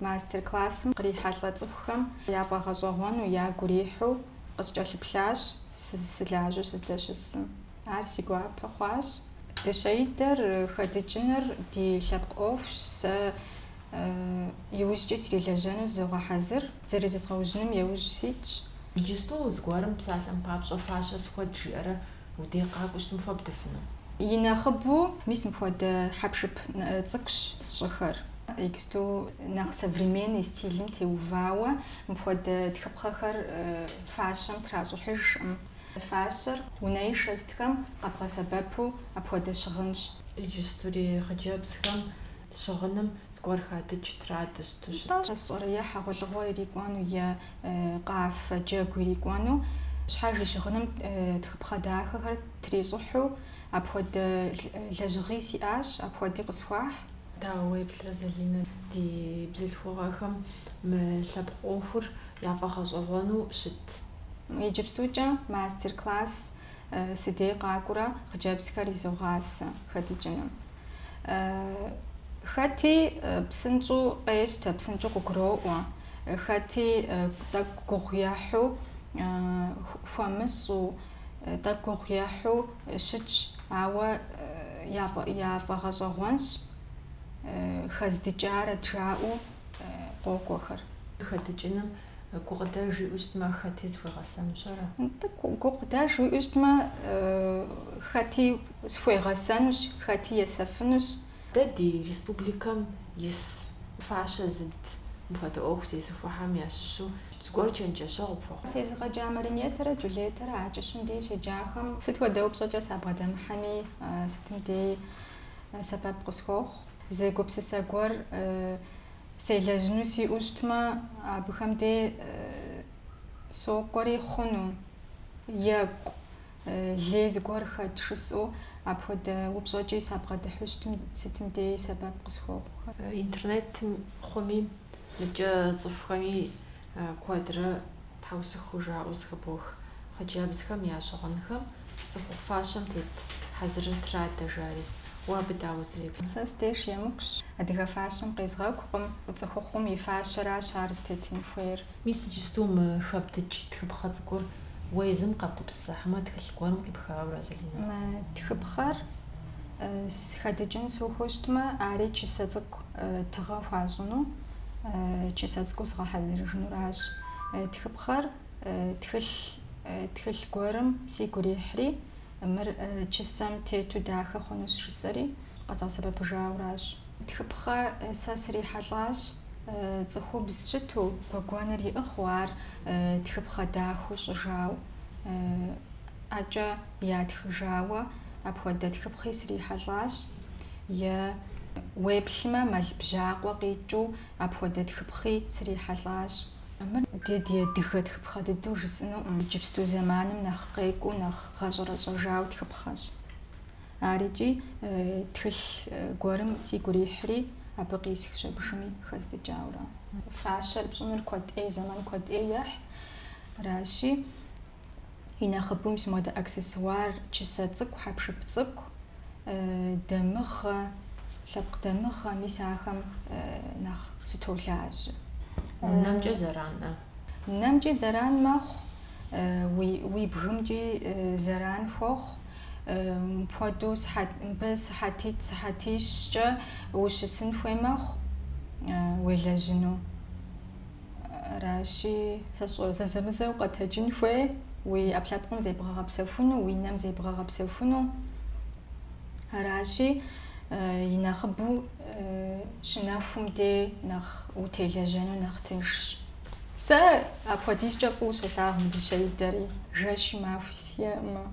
Мастер-классым кърихьэлӏэ цӏыхухэм яфӏэгъэщӏэгъуэну ягу ирихьу къыскӏэлъыплъащ сызысылажьэу сыздэщысым. Ар си гуапэ хъуащ. Дыщэидэр хэдыкӏыныр ди лъэпкъ ӏуэхущ, сэ иужькӏи срилэжьэну зызогъэхьэзыр, зэрызезгъэужьыным еужь ситщ. Иджысту зыгуэрым псалъэм папщӏэ фащэ схуэд жиӏэрэ Удей къакӏуэу щытмэ хуэбдыфыну? И нэхъыбэу, мис мыпхуэдэ хьэпшып цӏыкӏущ сщӏыхэр. Иджысту нэхъ современный стилым теувауэ мыпхуэдэ тхыпхъэхэр фащэм тращӏыхьыжкъым. Фащэр унэишэ сытхэм къэбгъэсэбэпу апхуэдэ щыгъынщ. Иджыстури хъыджэбзхэм щыгъыным зыгуэр хадыкӏ, традэ сыту щыт? Атӏэ, сщӏэрэ, е хьэгъуэлӏыгъуэ ирикӏуэну, е къафэ джэгу ирикӏуэну, щхьэж и щыгъыным тхыпхъэ дахэхэр трищӏыхьу, апхуэдэ лэжьыгъи сиӏащ, апхуэди къысхуахь. Дауэ уеплърэ, Залинэ, ди бзылъхугъэхэм мы лъэпкъ ӏуэхур яфӏэгъэщӏэгъуэну щыт? Иджыпстукӏэ мастер-класс сыдей къакӏуурэ хъыджэбзхэр изогъасэ хэдыкӏыным. Хэти псынщӏэу къещтэ, псынщӏэу къыгуроӏуэ. Хэти тӏэкӏу гугъу ехьу, хуэмыщӏу, тӏэкӏу гугъу ехьу щытщ, ауэ яфӏэгъэщӏэгъуэнщ хэздыкӏарэт жаӏэу къокӏуэхэр. Хэдыкӏыным гукъыдэж иӏэу щытмэ, хэти зыхуегъэсэнущ ара? Тӏэкӏу гукъыдэж уиӏэу щытмэ, хэти схуегъэсэнущ, хэти есэфынущ, Дэ ди республикэм ис фащэ зыд мыпхуэдэ ӏуэху зезыхуэхэм ящыщу зыгуэр чэнджэщэгъу пхуэхъу. Сезыгъэджа Маринетэрэ Джулетэрэ а кӏыщым дей щеджахэм сыт хуэдэ упщӏэкӏэ сабгъэдэмыхьэми, сытым деи сэбэп къысхуохъу. Зы гупсысэ гуэр селэжьыну сиӏэу щытмэ, абыхэм дей сокӏуэри хъуну, екӏу, Лей зыгуэр хэт жысӏэу апхуэдэ упщӏэкӏи сабгъэдыхьу щытым сытым деи сэбэп къысхуохъухэ. Интернетым хъуми, мыбкӏэ цӏыхухэми куэдрэ тхьэусыху жаӏэу зыхыбох хъыджэбзхэм я щыгъынхэм цӏыхухъу фащэм тет хьэзырыр традэ жари. Уэ абы дауэ узэреплъ? Сэ сдеж емыкӏущ. Адыгэ фащэм къезгъэкӏукъым, цӏыхухъум и фащэращ ар зытетын хуейр. Мис иджысту мы хэбдыкӏ тхыпхъэ цӏыкӏур уэ езым къэбгупсыса хьэмэ тхылъ гуэрым къипхауэра, Залинэ? Мы тхыпхъэр хэдыкӏын сухыу щытмэ, ари чысэ цӏыкӏу тыгъэ хуащӏыну, чысэ цӏыкӏу згъэхьэзырыжынуращ. Тхыпхъэр тхылъ, тхылъ гуэрым сигу ирихьри, мыр чысэм тету дахэ хъунущ жысӏэри, къэзгъэсэбэпыжауращ. Тхыпхъэ сэ срихьэлӏащ. цӏыхубз щыту, гуэгуэныр иӏыгъыу ар тхыпхъэ дахэу щӏыжау, ӏэкӏэ ятхыжауэ, апхуэдэ тхыпхъи срихьэлӏащ, е уеплъмэ мэл бжьакъуэ къикӏыу апхуэдэ тхыпхъи срихьэлӏащ. Мыр дэ ди адыгэ тхыпхъэ дыдэу жысӏынуӏым, иджыпсту зэманым нэхъ къекӏуу, нэхъ гъэщӏэрэщӏэжау тхыпхъэщ. Ар икӏи тхылъ гуэрым сигу ирихьри, абы къисхщ абыхэми хэздыкӏауэрэ. Фащэр пщӏыныр куэд ӏей, зэман куэд ӏей ехь. Аращи, и нэхъыбэуи сэ мыдэ аксессуар, чысэ цӏыкӏу, хьэпшып цӏыкӏу, дамыгъэ, лъэпкъ дамыгъэ, мис ахэм нэхъ сытолажьэ. Уи нэмкӏэ зэранӏэ. Нэмкӏи зэран мэхъу, уи бгымкӏи зэран хуохъу. Мыпхуэдэу мыбы сыхьэтитӏ-сыхьэтищкӏэ ущысын хуей мэхъу уелэжьыну. Аращи, сэ сщӏэрэ, зэзэмызэ укъэтэджын хуей, уи ӏэпкълъэпкъым зебгъэгъэпсэхуну, уи нэм зебгъэгъэпсэхуну. Аращи, и нэхъыбэу щынэхум дей нэхъ утелэжьэну нэхъ тыншщ. Сэ апхуэдизкӏэ фӏыуэ солъагъу мы дыщэидэри, жэщи махуи сиӏэӏымэ.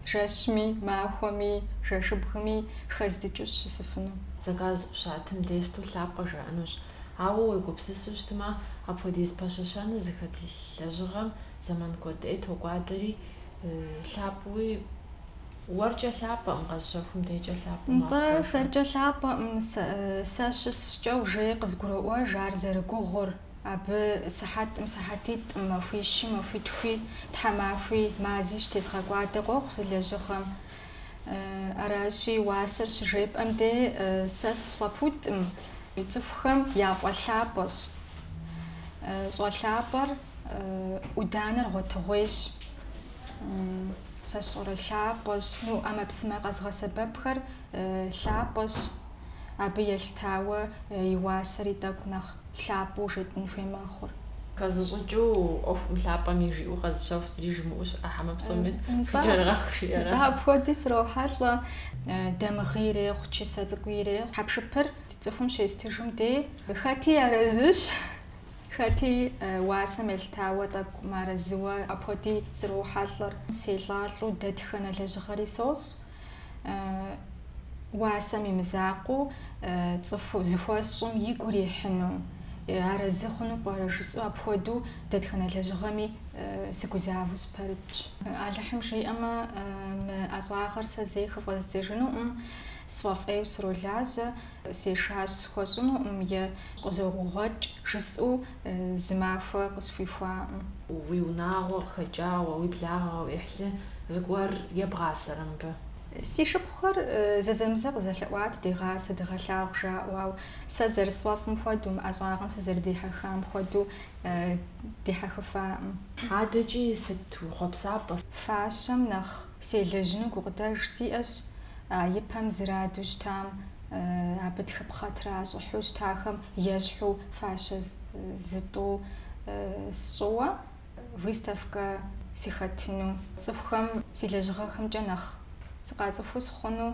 Жэщми, махуэми, жэщыбгми хэздыкӏыу сщысыфыну. Заказ къыщатым дей сыту лъапӏэ жаӏэнущ. Ауэ уегупсысу щытмэ, апхуэдиз пэщэщэну зыхэт лэжьыгъэм зэман куэд ӏей токӏуадэри, лъапӏэуи, Уэркӏэ лъапӏэӏым, къэзщэхум декӏэ лъапӏэм апхуэжу. Нтӏэ, сэркӏэ лъапӏэӏым, сэ щысщӏкӏэ уже къызгуроӏуэж ар зэрыгугъур, абы сыхьэтӏым сыхьэтитӏым, махуищи махуитхуи, тхьэмахуи, мази щтезгъэкӏуадэ къохъу зы лэжьыгъэм. Аращи, уасэр щыжепӏэм де сэ сфӏэпудӏым, цӏыхухэм яфӏэлъапӏэщ. Щӏэлъапӏэр ӏуданэр гъуэтыгъуейщ. Сэ сщӏэрэ лъапӏэщ, ну, ӏэмэпсымэ къэзгъэсэбэпхэр лъапӏэщ, абы елъытауэ и уасэри тӏэкӏу нэхъ лъапӏэу жетӏын хуей мэхъур. Хэзыщӏыкӏыу ӏуэхум, лъапӏэми жиӏэу къэзыщэху зыри жымыӏэу щыӏэ хьэмэ псоми схукӏэрыгъэху жиӏэрэ? Нтӏэ, апхуэди срохьэлӏэ. Дамыгъи ирехъу, чысэ цӏыкӏуи ирехъу. Хьэпшыпыр цӏыхум щестыжым де хэти арэзыщ. Хэти уасэм елъытауэ тӏэкӏу мыарэзыуэ апхуэди срохьэлӏэр. Селӏалӏэу дэтхэнэ лэжьыгъэри сощӏ. Уасэм и мызакъуэу цӏыху зыхуэсщӏым игу ирихьыну, арэзы хъуну пӏэрэ жысӏэу апхуэдэу дэтхэнэ лэжьыгъэми сыгузавэу сыпэрытщ. Алыхьым жиӏэмэ, мы ӏэщӏагъэр сэ зэи хыфӏэздзэжынуӏым, сфӏэфӏейуэ сролажьэ. Сешащ схуэщӏынуӏым е къызогугъуэкӏ, жысӏэу зы махуэ къысхуихуаӏым. Уи унагъуэ къыхэкӏауэ, уи благъэ, уи ӏыхьлы, зыгуэр ебгъасэрэ мыбы? Си шыпхъухэр зэзэмызэ къызэлъэӏуат дегъасэ, дыгъэлъагъу жаӏэу, ауэ сэ зэрысфӏэфӏым хуэдэу, мы ӏэщӏагъэм сызэрыдихьэхам хуэдэу дихьэхыфаӏым. Адэкӏи сыт уи хъуэпсапӏэ? Фащэм нэхъ Селэжьыну гукъыдэж сиӏэщ, а ипэм зэраду щытам, абы тхыпхъэ тращӏыхьу щытахэм ещхьу фащэ зытӏу сщӏыуэ выставкэ сыхэтыну, цӏыхухэм си лэжьыгъэхэмкӏэ нэхъ сыкъацӏыхуу сыхъуну.